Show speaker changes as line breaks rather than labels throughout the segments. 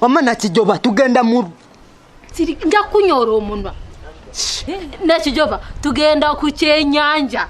wama nakijoba
tugenda mu
nja kunyora omunwa nakijoba tugenda ku kyenyanja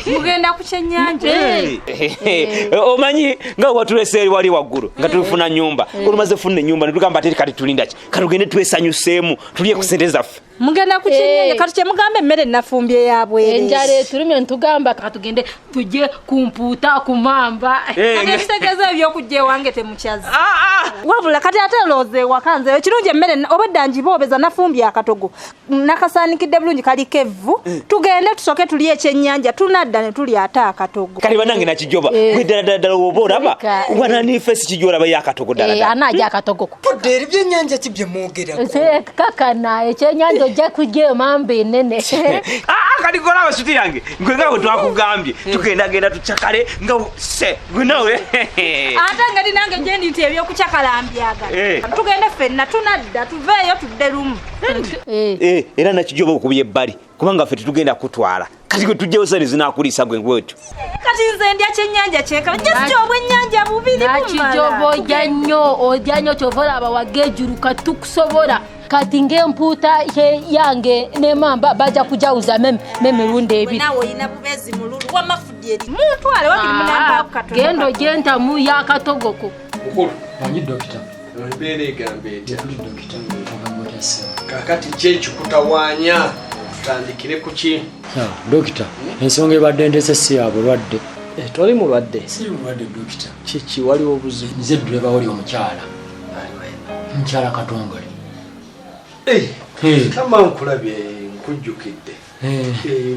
mugenda
ku kyenyanja eh. Eh. Eh. omanyi
nga watulesa eri wali waggulu nga tulifuna nyumba olumaze funa enyumba netugamba ate kati tulindaki katugende twesanyuseemu tulye ku sente zaffe mugenda ku kinyenye
eh. kati kyemugamba emmere nafumbye yabwere enjala etulumye
ntugamba katugende tujye ku mpuuta ku mamba eh, ebitegeeza
ebyokujja ewange temukyazi ah, ah. wabula kati ate looza ewaka nze ekirungi emmere obadda njiboobeza nafumbye akatogo nakasaanikidde bulungi kaliko evvu eh. tugende tusoke tuli ekyennyanja tunadda ne tuli ate akatogo kale banange nakijoba
gwe ddala ddala ddala woba olaba wananiifesi kijolaba yo akatogo ddala anaja akatogo
tudde eri byennyanja ki
bye mwogerako kakana
ekyennyanja ojja kujja eyo mamba enene ah, ah, kati
kola abasuti yange gwe nga bwe twakugambye eh. tugendagenda tucakale nga se gwe nawe ate nga
li nange gyendi nti ebyokucakala mbyaga eh. tugende fenna tunadda tuveeyo tudde lumu eh.
era nakijoba okubya ebbali kubanga ffe tetugenda kutwala kati gwe tujjawo sani zinakuliisa gwe gwetyo kati nze ndya
kyenyanja kyeka just obwenyanja bubiri bumalakijoba ojja
nnyo ojja nnyo kyova olaba waga ejuru kati tukusobola kati ngaempuuta yange nemamba bajja kujawuza memirundi ebiri
genda ogyentamu
yakatogoko
embeera egamba etya kakati kyekikutawanya tutandikire ku ki dokita
ensonga ebadde ndese si ya bulwadde eh, toli mulwadde kiki waliwo
obuzibu nze dduleba wali
omukyala mukyala katongole eh,
eh. kama nkulabye nkujjukidde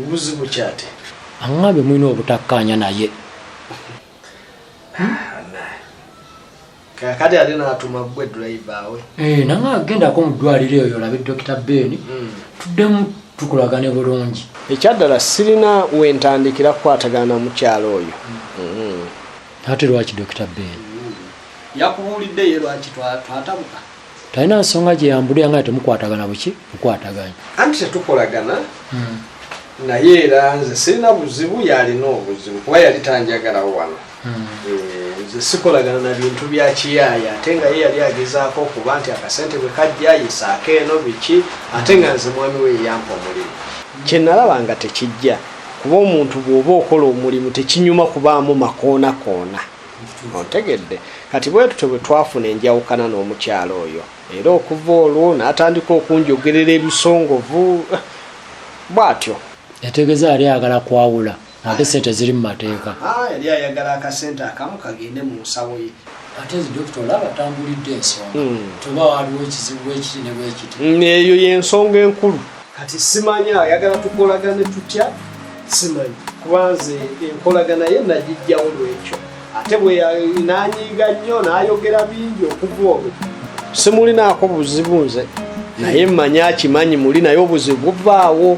buzibu kyate aŋambe mulina
obutakkaanya naye
kakati ate natuma gwe driver we eh, nange agendako mu
ddwaliro eyo olabe dokita ben hmm. tuddemu tukolagane bulungi ekyaddala sirina
wentandikira kukwatagana mukyalo oyo
hmm. ate lwaki dokita ben hmm. yakubuulidde
ye lwaki twatabuka talina
nsonga gyeyambulira nga temukwatagana buki mukwataganya anti tetukolagana
naye era nze sirina buzibu yalina obuzibu kuba yali tanjagalawo wano Hmm. Eh, nze sikolagana na bintu bya kiyaaya ate nga ye yali agezaako okuba nti akasente bwe kajja yisaako eno biki ate nga nze mwami we yeyampa omulimu kyenalaba nga tekijja kuba omuntu bw'oba okola omulimu tekinyuma kubaamu makoonakoona ontegedde kati bwetutyo bwe twafuna enjawukana n'omukyalo oyo era okuva olwo n'atandika okunjogerera ebisongovu eh, bw'atyo yategeeza
yali ayagala kwawula ate sente ziri mu mateeka ah, yali ayagala
akasente akamu kagende mu nsawo ye ate dokita
olaba tambulidde ensonga hmm. tuba waliwo ekizibu bwekiti ne bwekiti hmm, eyo yensonga
enkulu kati simanyi ayagala tukolagane tutya simanyi kubanze enkolagana ye nagijjawo lwekyo ate bwenanyiiga nnyo nayogera bingi okuva olwo simulinaako buzibu nze naye mmanyi akimanyi muli naye obuzibu buvaawo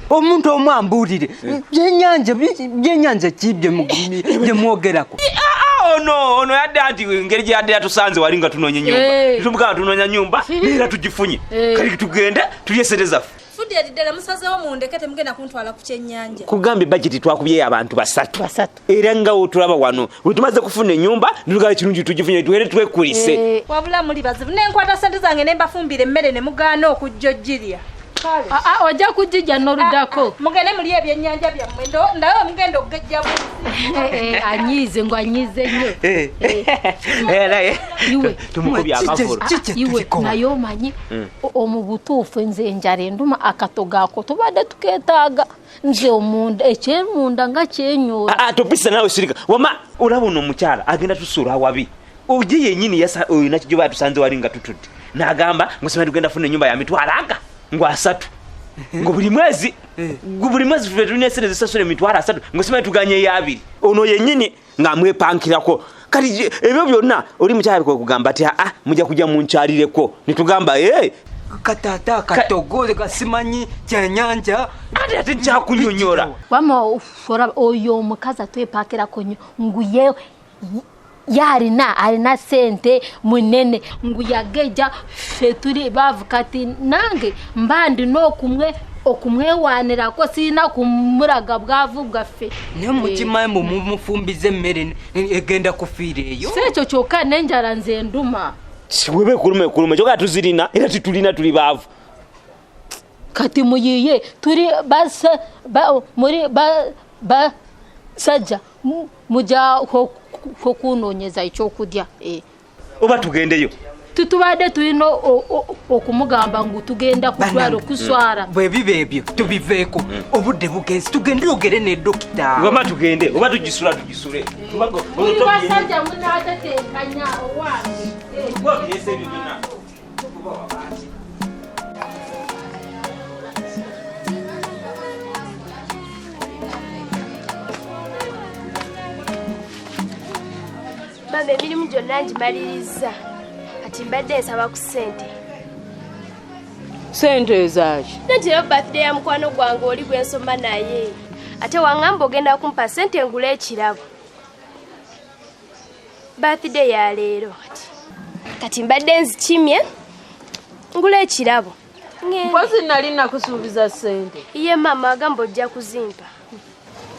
omuntu omu ambuulire byenyanja byenyanja ki bye mwogerako ono
ono yadde anti engeri gye yadde yatusanze wali nga tunoonya enyumba eh. tumugamba tunoonya nyumba era tugifunye
eh.
kali tugende tulye sente zaffe
kugambye bajeti
twakubyeyo abantu basatu era nga wotulaba wano wetumaze kufuna enyumba nitugala kirungi tugifunye tuere twekulise eh, wabula muli bazibu
nenkwata sente zange nembafumbira emmere ne mugaana okujja ojjirya ah, ah,
ojja kujija noludako ah, mugende muli ebyenyanja
byammwe ndawe mugenda okugejja eh, eh, anyize ngo
anyize nyo
iwe naye
omanyi hmm. omubutuufu nze enjala enduma akatogaako tubadde tuketaaga nze omunda ekyemunda nga kyenyoola ah, ah, topisa nawe sirika
wama olaba ono omukyala agenda tusuula awabi oje yenyini yasa oyo nakijoba atusanze wali nga tutudde nagamba ngosema tugenda funa enyumba ya mitwalo aga ngo asatu ngo buli mwezi eh. buli mwezi fe tulina esente zisasula emitwalo asatu ngosema tuganye eyabiri ono yenyini nga mwepankirako kati ebyo byonna oli mukyala kwe kugamba ti aa muja kuja munkyalireko netugamba ee katata
katogole kasimanyi kyenyanja ate ate
nkyakunyonyora wama
oyo omukazi atwepakirako nyo nguye yalina alina sente munene ngu yageja ffe tuli baavu kati nange mba ndina okumwe okumwewanirako sirina kumulaga bwavu bwaffe naye mukimayi
mbu mumufumbiza emmere ne- ne- egenda kufiira eyo si ekyo kyokka n'enjala
nze nduma weba ekuluma
ekuluma kyoka tuzirina era titulina tuli baavu
kati muyiye tuli basa- ba- muri ba- basajja mu- mujja okunonyeza ekyokulya eh. oba
tugendeyo tutubadde
tulina okumugamba ngu tugenda kutwalo kuswara mm. bwebiba ebyo
tubiveeko mm. obudde bugenzi tugende ogere ne dokita oba tugende oba
tugisula tugisule
basajja munatetenkanya owange
mama emirimu gyonna ngimalirizza kati mbadde nsaba ku ssente
sente ezaaki nantirayo birthday ya
mukwano gwange oli gwe nsoma naye ate waŋŋamba ogenda kumpa sente ngula ekirabo birthday ya leero kati kati mbadde nzikimye ngula ekirabo mpozi
nali nakusuubiza sente iye maama agamba
ojja kuzimpa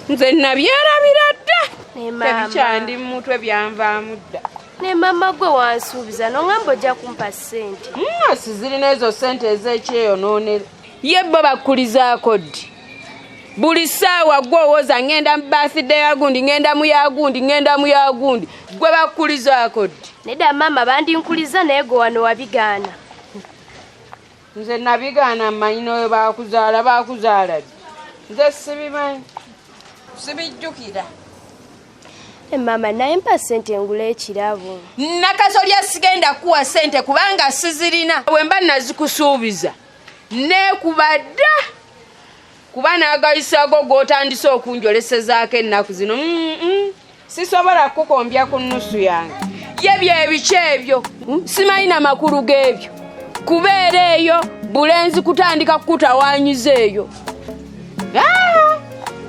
nze
nabyerabira dda tebikyandi
mu mutwe
byanvaamu dda ne mama gwe
wansuubiza nongamba ojja kumpa ssente mwasi mm, zirina ezo
ssente ez'ekyeyonoonera ye bo bakkulizaako ddi buli ssaawa gwe owoza ŋŋenda mu bathday yagundi ŋŋenda mu yagundi ŋŋenda mu yagundi gwe bakkulizaako ddi nedda maama
bandinkuliza naye gwe wano wabigaana
nze nabigaana mmanyi noyo bakuzaala bakuzaala di nze sibimanyi sibijjukira
eh, maama naye mpa sente engula ekirabo nakasolya
sigenda kuwa sente kubanga sizirina wemba nazikusuubiza nekubadda kuba n'agayisago g'otandise okunjolesezaako ennaku zino mm, mm. sisobola kukukombya ku nnusu yange ye byebiki ebyo hmm? simanyi na makulu g'ebyo kubeera eyo bulenzi kutandika kukutawanyiza eyo ah!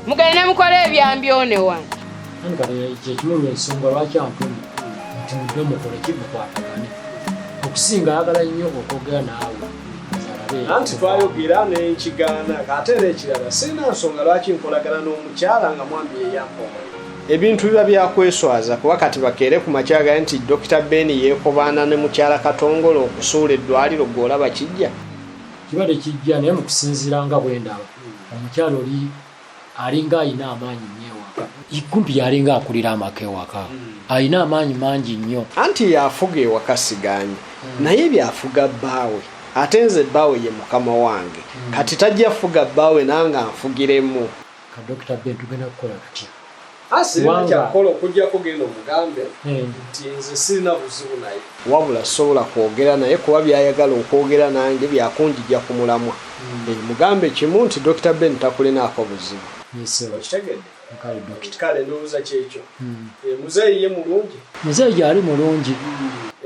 mugende mukole ebyambyone wano
kyekimulu ensonga lwaki antuma nti mudde mukole kimukwatagane okusinga ayagala nnyo okwogera naawe anti twayogera
nenkigaana ate era ekirala sirina nsonga lwaki nkolagana n'omukyala nga mwami yeyampa omulimu ebintu biba byakweswaza kuba kati bakeere ku makyaga nti dokita ben yeekobaana ne mukyala katongole okusuula eddwaliro gwe olaba kijja kibadde
kijja naye mu kusinziira nga bwendaba omukyala oli alinga alina amaanyi nnyo ewaka kumpi yalinga akulira amaka ewaka hmm. alina amaanyi mangi nnyo anti yafuga
ewaka siganyi hmm. naye byafuga bbaawe ate nze bbaawe ye mukama wange hmm. kati tajja fuga bbaawe nanga nfugiremu kadokita
ben tugenda kukola tutya
kyakola okujjako genda omugambe hmm. nti nze sirina buzibu naye wabula sobola kwogera naye kuba byayagala okwogera nange byakunjija ku mulamwa hmm. eh, mugambe kimu nti dr ben takulinaako buzibu hmm. eh, muzeeyi ye mulungi muzeeyi gyali
mulungi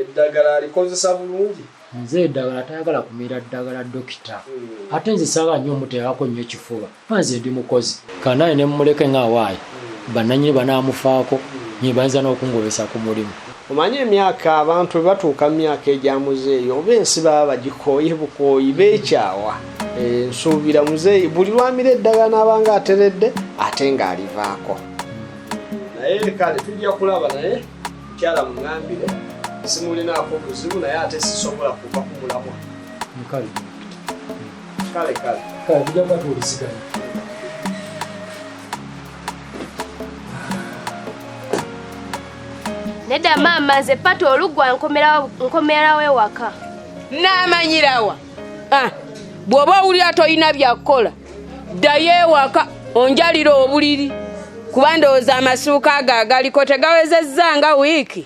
eddagala
alikozesa bulungi nze edagala
tayagala kumira ddagala dokita hmm. ate nze saba nyo omuteekako nnyo kifuba kuba nze ndi mukozi kanaye ne mumuleke nga awaayi bananyini banaamufaako nyi bayinza n'okungobesa ku mulimu omanyi emyaka
abantu bwe batuuka mu myaka egya muzeeyi oba ensi baba bagikooye bukooyi beekyawa eh, nsuubira muzeeyi buli lwamira eddagala n'abanga ateredde ate ng'alivaako naye kale tujja kulaba naye mukyala mungambire simulinaako buzibu naye ate sisobola kuva ku mulamwa kale kale kale tujja kuba
tuwuliziganya
nedda maama nze pata oluggwa nkomerawo ewaka naamanyirawa
ah, bw'oba owulira tolina byakukola ddayo ewaka onjalira obuliri kuba ndowooza amasuuka ago agaliko tegawezezza nga wiiki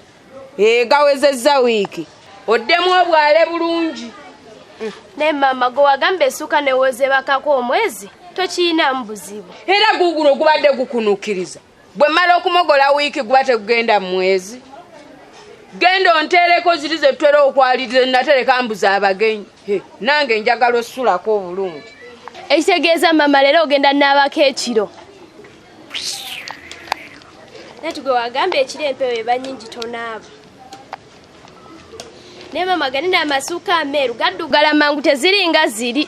ee gawezezza wiiki oddemu obwale bulungi mm. naye
maama gwe wagamba esuuka newozebakako omwezi tokiyinamu buzibu era guguno gubadde
gukunukkiriza bwe mmala okumogola wiiki guba tegugenda mu mwezi genda onteereko ziri ze tutera okwaliriza enatereka mbuza abagenyi nange njagala osulako obulungi ekitegeeza
mama leero ogenda naabako ekiro nati gwe wagamba ekiro empewo eba nyingi tonaaba naye mama gani naamasuuka ameeru gaddugala mangu teziringa ziri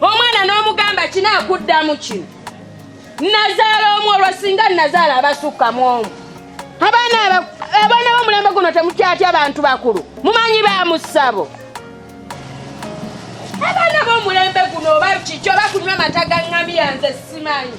omwana n'omugamba kina akuddamu kino nazaala omu olwo singa nazaala abasukka mu omu abaana abaana b'omulembe guno temutyatya bantu bakulu mumanyi ba musabo abaana b'omulembe guno oba kikyo bakunywa mata ga ŋŋamiya nze simanyi